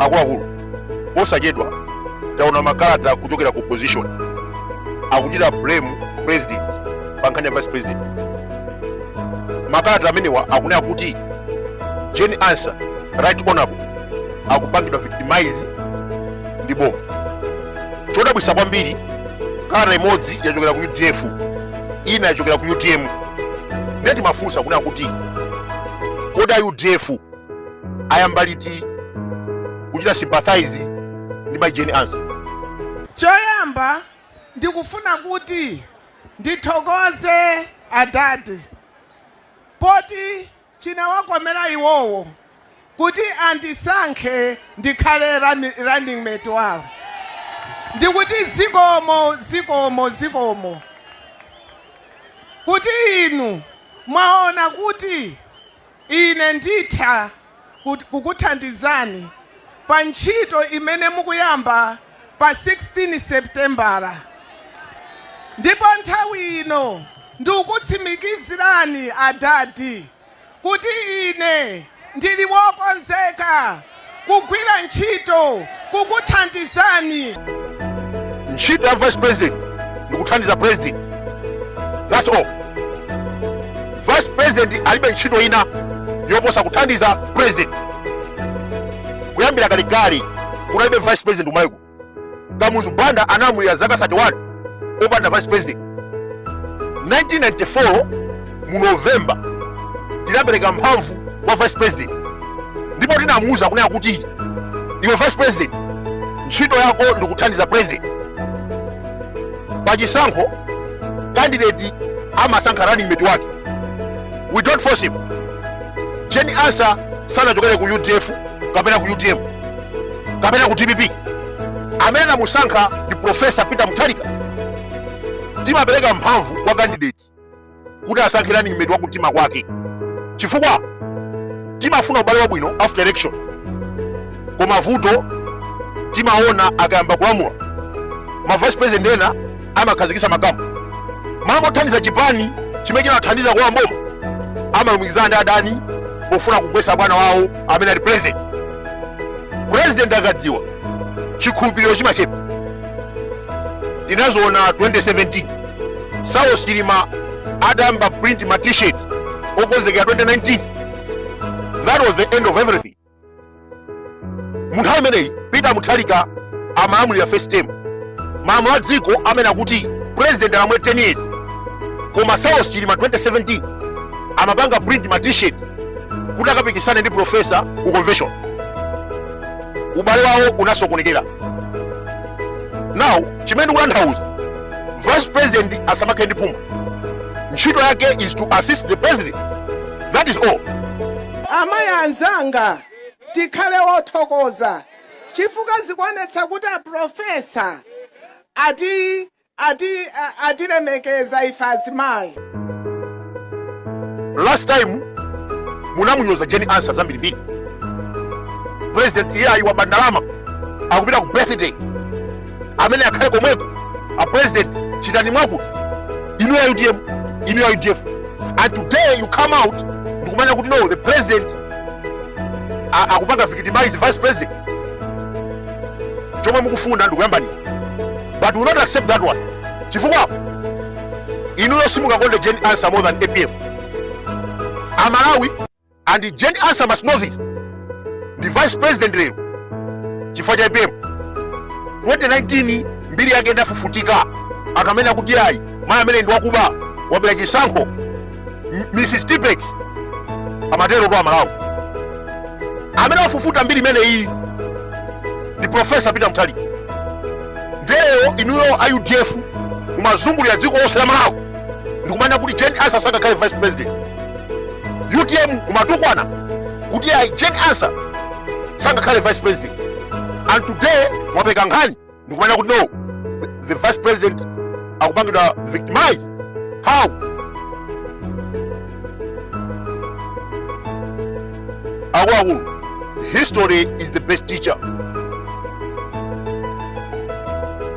akuluakulu posachedwa taona makalata kuchokera ku opposition akuchita blame president pa nkhani ya vice president makalata amenewa akunena kuti jane ansah right honorable akupangidwa victimize ndi boma chodabwisa kwambiri kalata imodzi yachokera ku udf ina yachokera ku utm ndiye timafunsa kunena kuti kodi a udf ayamba liti kuchita sympathize ndi mai jane ansah choyamba ndikufuna kuti ndithokoze adadi poti Chinawakomera iwowo kuti andisankhe ndikhale running mate wawo ndikuti zikomo zikomo zikomo kuti inu mwaona kuti ine nditha kukuthandizani pa ntchito imene mukuyamba pa 16 Sepitembala ndipo nthawi ino ndikukutsimikizirani adadi kuti ine ndili wokonzeka kugwira ntchito kukuthandizani. Ntchito ya vice president ndikuthandiza president, that's all. Vice president alibe ntchito ina yoposa kuthandiza president. kuyambira kalekale kunalibe vice president ku malawi kuno kamuzu banda analamulira zaka 31 opanda vice president 1994 mu novemba tinapereka mphamvu kwa vice president ndipo tinamuuza kunena kuti iwe vice president ntchito yako ndikuthandiza president pa chisankho candidate amasankha running mate wake we don't force him jane ansah sanachokere ku udf kapena ku utm kapena ku dpp amene anamusankha ndi profesa peter mutharika timapereka mphamvu kwa kandidate kuti asankhe running mate wa kumtima kwake chifukwa timafuna ubale wabwino after election koma vuto timaona akayamba kulamulira ma vice president ena amakhazikitsa ma camp mmalo mothandiza chipani chimene chinawathandiza kulowa mboma amalumikizana ndi adani pofuna kugwetsa bwana wawo amene ali president president akadziwa chikhulupiriro chimachepa tinaziona 2017 saulos chilima adayamba print ma t-shirt okonzekera 2019 that was the end of everything mu nthawi imeneyi peter muthalika amalamulira first term malamulo a dziko amanena kuti president alamule 10 years koma saulos chilima 2017 amapanga print ma t-shirt kuti akapikisane ndi profesa ku convention ubale wawo unasokonekera now chimene ndikutanthauza vice president asamakhale ndi phuma ntchito yake is to assist the president that is all. Amayi anzanga tikhale othokoza chifukwa zikuonetsa kuti a Professor atilemekeza ife azimayi. Last time munamunyoza Jane Ansah zambirimbiri. President iye ayi waba ndalama akupita ku birthday amene akhale komweko a president chitani mwakuti inu a utm inu a udf and today you come out ndikumanena kuti no the president a- akupanga victimize vice president chomwe mukufuna ndikuyambanitsa but we will not accept that one chifukwa inuyo simungakonde jane ansah more than apm amalawi and Jane Ansah must know this ndi vice president lero chifukwa cha APM 2019 mbiri yake inafufutika anthu amanena kuti ayi mayi ameneyi ndi wakuba wabera chisankho Mrs Tipex amaterotu aMalawi amene wafufuta mbiri imeneyi ndi professor Peter Mutharika ndiyeno inuyo a UDF mumazungulira dziko lonse la Malawi ndikumanena kuti Jane Ansah asakakhale vice president utm mumatukwana kuti ayi jane ansah sangakhale vice president and today mwapeka nkhani ndikumanena kuti no the vice president akupangidwa victimize how akuluakulu history is the best teacher